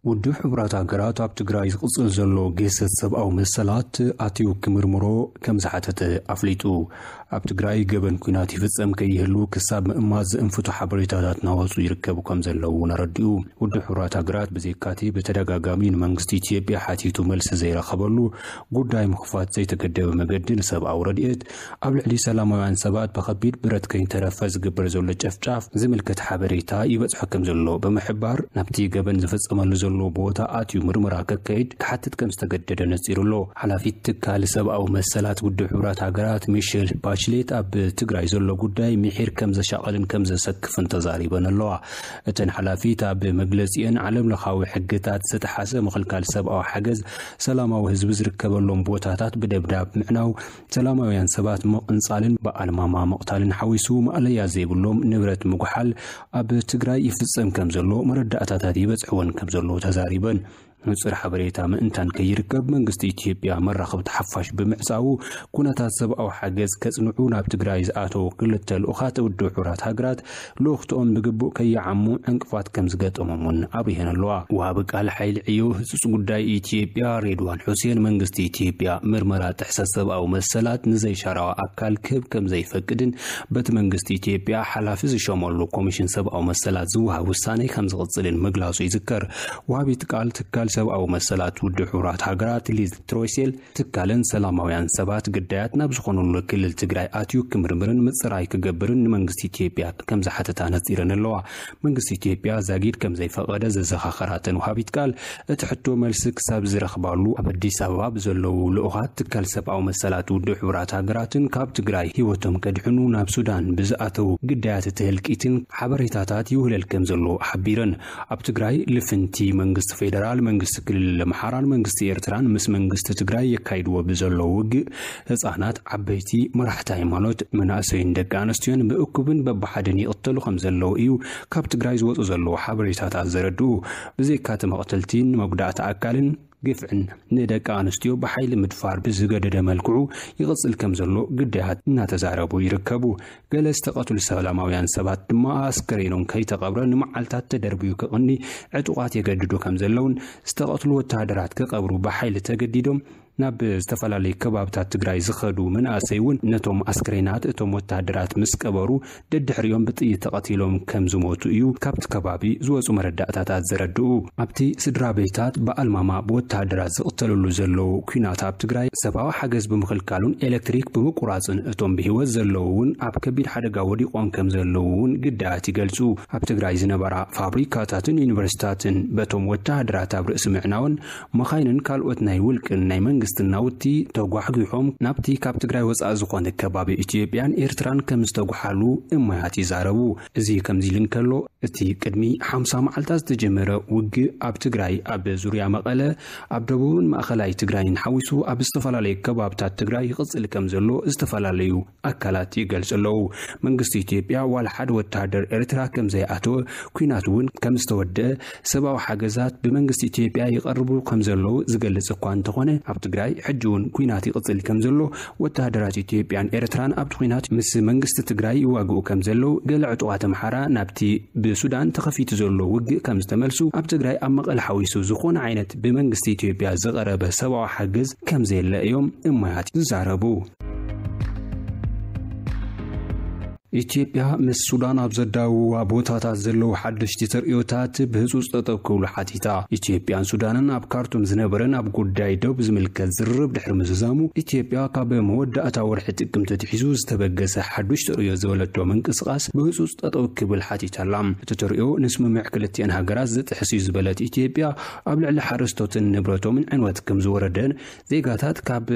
ውድብ ሕቡራት ሃገራት ኣብ ትግራይ ዝቕጽል ዘሎ ግህሰት ሰብኣዊ መሰላት ኣትዩ ክምርምሮ ከም ዝሓተተ ኣፍሊጡ ኣብ ትግራይ ገበን ኩናት ይፍጸም ከይህሉ ክሳብ ምእማት ዝእንፍቱ ሓበሬታታት ናወጹ ይርከቡ ከም ዘለዉ እውን ኣረዲኡ። ውድብ ሕቡራት ሃገራት ብዘይካቲ ብተደጋጋሚ ንመንግስቲ ኢትዮጵያ ሓቲቱ መልሲ ዘይረኸበሉ ጉዳይ ምኽፋት ዘይተገደበ መገዲ ንሰብኣዊ ረድኤት ኣብ ልዕሊ ሰላማውያን ሰባት ብኸቢድ ብረት ከይተረፈ ዝግበር ዘሎ ጨፍጫፍ ዝምልከት ሓበሬታ ይበጽሖ ከም ዘሎ ብምሕባር ናብቲ ገበን ዝፍጸመሉ ዘሎ ቦታ ኣትዩ ምርመራ ከካይድ ክሓትት ከም ዝተገደደ ነጺሩ ኣሎ። ሓላፊት ትካል ሰብኣዊ መሰላት ውድብ ሕቡራት ሃገራት ሚሸል ባችሌት ኣብ ትግራይ ዘሎ ጉዳይ ምሒር ከም ዘሻቐልን ከም ዘሰክፍን ተዛሪበን ኣለዋ። እተን ሓላፊት ኣብ መግለፂአን ዓለም ለኻዊ ሕግታት ዝተጥሓሰ ምኽልካል ሰብኣዊ ሓገዝ፣ ሰላማዊ ህዝቢ ዝርከበሎም ቦታታት ብደብዳብ ምዕናው፣ ሰላማውያን ሰባት ምቕንፃልን ብኣልማማ ምቕታልን ሓዊሱ ማእለያ ዘይብሎም ንብረት ምጉሓል ኣብ ትግራይ ይፍፀም ከም ዘሎ መረዳእታታት ይበፅሕወን ከም ዘለዉ ተዛሪበን። ንፁር ሓበሬታ ምእንታን ከይርከብ መንግስቲ ኢትዮጵያ መራኸብቲ ሓፋሽ ብምዕፃዉ ኩነታት ሰብኣዊ ሓገዝ ከፅንዑ ናብ ትግራይ ዝኣተዉ ክልተ ልኡኻት ውድብ ሕቡራት ሃገራት ልኡኽትኦም ብግቡእ ከይዓሙ ዕንቅፋት ከም ዝገጠሞም እውን ኣብሪሀን ኣለዋ። ወሃቢ ቃል ሓይሊ ዕዮ ህፁፅ ጉዳይ ኢትዮጵያ ሬድዋን ሑሴን መንግስቲ ኢትዮጵያ ምርመራ ጥሕሰት ሰብኣዊ መሰላት ንዘይሻራዊ ኣካል ክህብ ከም ዘይፈቅድን በቲ መንግስቲ ኢትዮጵያ ሓላፊ ዝሸመሉ ኮሚሽን ሰብኣዊ መሰላት ዝወሃብ ውሳነ ከም ዝቕፅልን ምግላፁ ይዝከር። ወሃቢት ቃል ትካል ሰብኣዊ መሰላት ውድብ ሕቡራት ሃገራት ሊዝ ትሮይሴል ትካለን ሰላማውያን ሰባት ግዳያት ናብ ዝኾኑሉ ክልል ትግራይ ኣትዩ ክምርምርን ምፅራይ ክገብርን ንመንግስቲ ኢትዮጵያ ከም ዝሓተታ ነፂረን ኣለዋ። መንግስቲ ኢትዮጵያ ዛጊድ ከም ዘይፈቐደ ዘዘኻኸራተን ወሃቢት ቃል እቲ ሕቶ መልሲ ክሳብ ዝረኽባሉ ኣብ ኣዲስ ኣበባ ብዘለዉ ልኡኻት ትካል ሰብኣዊ መሰላት ውድብ ሕቡራት ሃገራትን ካብ ትግራይ ህይወቶም ከድሕኑ ናብ ሱዳን ብዝኣተዉ ግዳያት እቲ ህልቂትን ሓበሬታታት ይውህለል ከም ዘሎ ሓቢረን። ኣብ ትግራይ ልፍንቲ መንግስቲ ፌደራል፣ መንግስቲ ክልል ኣምሓራን መንግስቲ ኤርትራን ምስ መንግስቲ ትግራይ የካይድዎ ብዘለዉ ውግእ ህጻናት፣ ዓበይቲ፣ መራሕቲ ሃይማኖት፣ መናእሰይን ደቂ ኣንስትዮን ብእኩብን በብሓደን ይቕተሉ ከምዘለዉ እዩ ካብ ትግራይ ዝወጹ ዘለዉ ሓበሬታታት ዘረድኡ። ብዘይካ'ቲ መቕተልቲን መጉዳእቲ ኣካልን፣ ግፍዕን ንደቂ ኣንስትዮ ብሓይሊ ምድፋር ብዝገደደ መልክዑ ይቕጽል ከም ዘሎ ግዳያት እናተዛረቡ ይርከቡ። ገለ ዝተቐትሉ ሰላማውያን ሰባት ድማ ኣስከሬኖም ከይተቐብረ ንመዓልታት ተደርብዩ ክቕኒ ዕጡቓት የገድዱ ከም ዘለውን ዝተቐትሉ ወተሃደራት ክቐብሩ ብሓይሊ ተገዲዶም ናብ ዝተፈላለዩ ከባብታት ትግራይ ዝኸዱ መናእሰይ እውን ነቶም ኣስክሬናት እቶም ወተሃደራት ምስ ቀበሩ ደድሕሪኦም ብጥይት ተቐቲሎም ከም ዝሞቱ እዩ ካብቲ ከባቢ ዝወጹ መረዳእታታት ዘረድኡ። ኣብቲ ስድራቤታት ብኣልማማ ብወተሃደራት ዝቕተልሉ ዘለዉ ኲናት ኣብ ትግራይ፣ ሰብኣዊ ሓገዝ ብምኽልካሉን ኤለክትሪክ ብምቁራጽን እቶም ብህይወት ዘለዉ እውን ኣብ ከቢድ ሓደጋ ወዲቖም ከም ዘለዉ እውን ግዳያት ይገልጹ። ኣብ ትግራይ ዝነበራ ፋብሪካታትን ዩኒቨርሲታትን በቶም ወተሃደራት ኣብ ርእሲ ምዕናወን፣ መኻይንን ካልኦት ናይ ውልቅን ናይ መንግስትን ናውቲ ተጓሕጒሖም ናብቲ ካብ ትግራይ ወፃኢ ዝኾነ ከባቢ ኢትዮጵያን ኤርትራን ከምዝተጉሓሉ እማያት ይዛረቡ። እዚ ከምዚሉ እንከሎ እቲ ቅድሚ ሓምሳ መዓልታት ዝተጀመረ ውግእ ኣብ ትግራይ ኣብ ዙርያ መቐለ ኣብ ደቡብን ማእኸላይ ትግራይን ሓዊሱ ኣብ ዝተፈላለዩ ከባብታት ትግራይ ይቕፅል ከምዘሎ ዝተፈላለዩ ኣካላት ይገልጹ ኣለዉ። መንግስቲ ኢትዮጵያ ዋላ ሓደ ወተሃደር ኤርትራ ከምዘይኣተወ፣ ኲናት እውን ከምዝተወደኣ፣ ሰብኣዊ ሓገዛት ብመንግስቲ ኢትዮጵያ ይቐርቡ ከምዘለዉ ዝገልጽ እኳ እንተኾነ፣ ኣብ ትግራይ ሕጂ እውን ኲናት ይቕጽል ከምዘሎ፣ ወተሃደራት ኢትዮጵያን ኤርትራን ኣብቲ ኲናት ምስ መንግስቲ ትግራይ ይዋግኡ ከምዘለዉ፣ ገለ ዕጡቓት ኣምሓራ ናብቲ ብሱዳን ተኸፊቱ ዘሎ ውግእ ከምዝተመልሱ፣ ኣብ ትግራይ ኣብ መቐለ ሓዊሱ ዝኾነ ዓይነት ብመንግስቲ ኢትዮጵያ ዝቐረበ ሰብኣዊ ሓገዝ ከምዘየለ እዮም እማያት ዝዛረቡ። ኢትዮጵያ ምስ ሱዳን ኣብ ዘዳውዋ ቦታታት ዘለዉ ሓደሽቲ ተርእዮታት ብህፁፅ ጠጠው ክብሉ ሓቲታ። ኢትዮጵያን ሱዳንን ኣብ ካርቱም ዝነበረ ናብ ጉዳይ ዶብ ዝምልከት ዝርርብ ድሕሪ ምዝዛሙ ኢትዮጵያ ካብ መወዳእታ ወርሒ ጥቅምቲ ትሒዙ ዝተበገሰ ሓዱሽ ተርእዮ ዝበለቶ ምንቅስቓስ ብህፁፅ ጠጠው ክብል ሓቲታላ። እቲ ተርእዮ ንስምምዕ ክልቲኤን ሃገራት ዝጥሕስ እዩ ዝበለት ኢትዮጵያ ኣብ ልዕሊ ሓረስቶትን ንብረቶምን ዕንወት ከም ዝወረደን ዜጋታት ካብ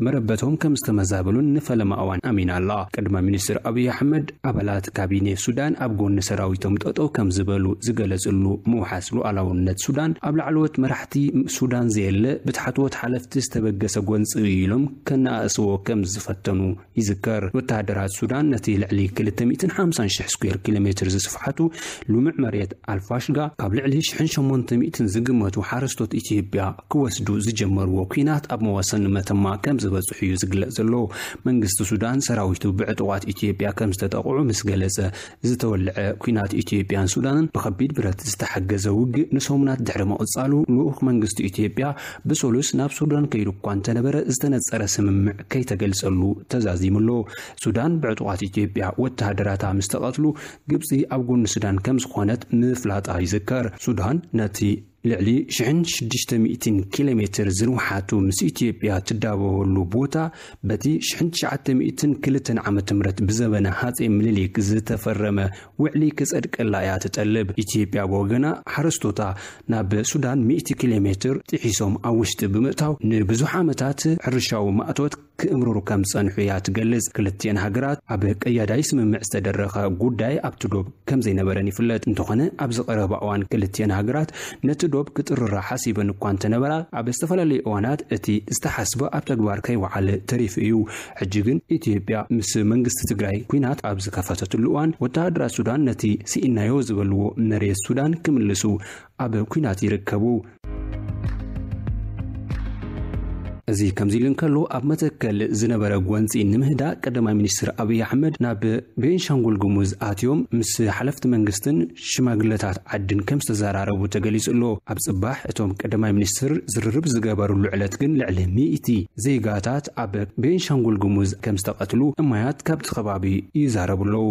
መረበቶም ከም ዝተመዛበሉን ንፈለማ እዋን ኣሚና ኣላ። ቀዳማይ ሚኒስትር ኣብይ ኣሕመድ ኣባላት ካቢኔ ሱዳን ኣብ ጎኒ ሰራዊቶም ጠጠው ከም ዝበሉ ዝገለፅሉ ምውሓስ ሉኣላውነት ሱዳን ኣብ ላዕለዎት መራሕቲ ሱዳን ዘየለ ብታሕተዎት ሓለፍቲ ዝተበገሰ ጎንፂ እዩ ኢሎም ከነኣእስዎ ከም ዝፈተኑ ይዝከር። ወተሃደራት ሱዳን ነቲ ልዕሊ ክልተ ሚእትን ሓምሳን ሽሕ ስኩዌር ኪሎ ሜትር ዝስፍሓቱ ልሙዕ መሬት ኣልፋሽጋ ካብ ልዕሊ ሽሕን ሸሞንተ ሚእትን ዝግመቱ ሓረስቶት ኢትዮጵያ ክወስዱ ዝጀመርዎ ኲናት ኣብ መዋሰኒ መተማ ከም ዝበጽሑ እዩ ዝግለጽ ዘሎ። መንግስቲ ሱዳን ሰራዊቱ ብዕጡቓት ኢትዮጵያ ከም ዝተጠቕዑ ምስ ገለጸ ዝተወልዐ ኲናት ኢትዮጵያን ሱዳንን ብከቢድ ብረት ዝተሓገዘ ውግእ ንሰሙናት ድሕሪ ምቕጻሉ፣ ልኡኽ መንግስቲ ኢትዮጵያ ብሰሉስ ናብ ሱዳን ከይዱ እኳ እንተነበረ ዝተነጸረ ስምምዕ ከይተገልጸሉ ተዛዚሙ ኣሎ። ሱዳን ብዕጡቓት ኢትዮጵያ ወተሃደራታ ምስ ተቐትሉ ግብጺ ኣብ ጎኒ ሱዳን ከምዝኾነት ምፍላጣ ይዝከር። ሱዳን ነቲ ልዕሊ ሽሕን ሽዱሽተ ሚእትን ኪሎ ሜትር ዝንውሓቱ ምስ ኢትዮጵያ ትዳበበሉ ቦታ በቲ ሽሕን ትሽዓተ ሚእትን ክልተን ዓመተ ምህረት ብዘበነ ሃፀይ ምኒልክ ዝተፈረመ ውዕሊ ክፀድቀላ እያ ትጠልብ። ኢትዮጵያ ብወገና ሓረስቶታ ናብ ሱዳን ሚእቲ ኪሎ ሜትር ጥሒሶም ኣብ ውሽጢ ብምእታው ንብዙሕ ዓመታት ሕርሻዊ ማእቶት ክእምርሩ ከም ዝጸንሑ እያ ትገልጽ። ክልቲኤን ሃገራት ኣብ ቀያዳይ ስምምዕ ዝተደረኸ ጉዳይ ኣብቲ ዶብ ከም ዘይነበረን ይፍለጥ። እንተኾነ ኣብዚ ቀረባ እዋን ክልቲኤን ሃገራት ነቲ ዶብ ክጥርራ ሓሲበን እኳ እንተነበራ ኣብ ዝተፈላለዩ እዋናት እቲ ዝተሓስበ ኣብ ተግባር ከይወዓለ ተሪፉ እዩ። ሕጂ ግን ኢትዮጵያ ምስ መንግስቲ ትግራይ ኲናት ኣብ ዝከፈተትሉ እዋን ወተሃደራት ሱዳን ነቲ ስኢንናዮ ዝበልዎ መሬት ሱዳን ክምልሱ ኣብ ኲናት ይርከቡ። እዚ ከምዚ ኢሉ እንከሎ ኣብ መተከል ዝነበረ ጎንፂ ንምህዳእ ቀዳማይ ሚኒስትር ኣብይ ኣሕመድ ናብ ቤንሻንጉል ጉሙዝ ኣትዮም ምስ ሓለፍቲ መንግስትን ሽማግለታት ዓድን ከም ዝተዘራረቡ ተገሊጹ ኣሎ። ኣብ ጽባሕ እቶም ቀዳማይ ሚኒስትር ዝርርብ ዝገበርሉ ዕለት ግን ልዕሊ ሚእቲ ዜጋታት ኣብ ቤንሻንጉል ጉሙዝ ከም ዝተቐትሉ እማያት ካብቲ ከባቢ ይዛረቡ ኣለዉ።